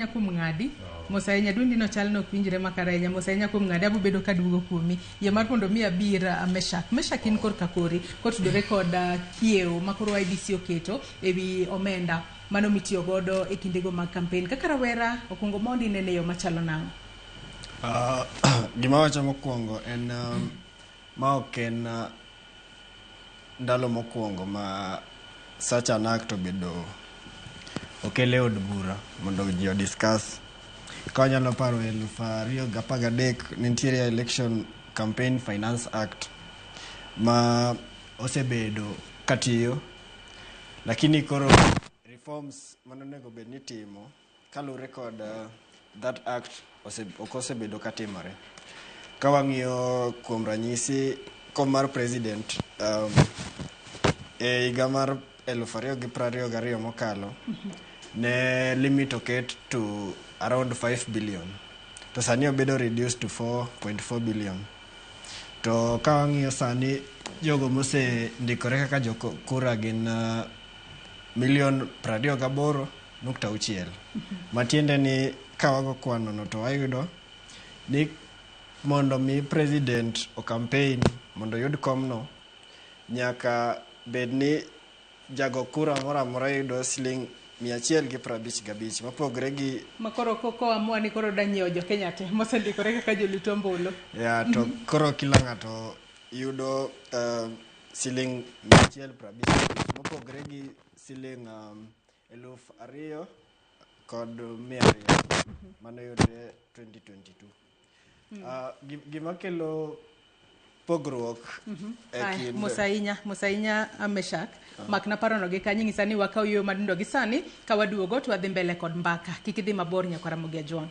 ahinya kuom ng'adi mos ahinya dwendi no chal nok winjre makar ahinya mos ahinya kuom ng'adi abubedo ka duogo kuomi yie mar mondo mi abir uh, meshak meshak in korka kori kotudore kod uh, kiewo ma koro idc oketo ewi omenda mano mitiyo godo e kindego mag kampen kaka rawera okwongo mondi nene yo machalo nang'o Ah, gima wacho mokwongo en um, Ma ok en ndalo mokwongo ma such an act obedo okel e od bura mondo ji odiscuss. Ka wanyalo paro eluf ariyo gi apar gadek ne nitiere election campaign finance act ma osebedo katiyo lakini koro reforms mane onego bed ni itimo Kaluwore kod uh, that act ok osebedo ka timore. Ka wang'iyo kuom ranyisi kom mar president um, e higa mar elufu ariyo gi prariyo gariyo mokalo ne limit oket to around 5 billion to sani obedo reduced to 4.4 billion to ka wang'iyo sani jogo mose ndikore kaka jokura gin uh, milion prariyo gaboro nukta auchiel matiende ni ka wago kwanono to wayudo ni mondo mi president okampein mondo oyud komno nyaka bed ni jago kura moro amora yudo siling mia achiel gi piero abich gabich mopogre gi ma koro koamua ni koro danyiewo jokenya te mosendikore kaka jolit ombulu ya to koro kila ng'ato yudo uh, siling mia achiel piero abich mopogre gi siling um, Eluf ariyo kod mia ariyo mane oyudre 2022. Ah, gi- gima kelo pogruok e Aya, kind Musainya, Musainya Ameshak. Mak naparono gi kanyo ing'isa ni wakaw yo madindo gi sani ka waduogo to wadhi mbele kod mbaka. Kik idhi mabor nyaka Ramogi Ajwang'.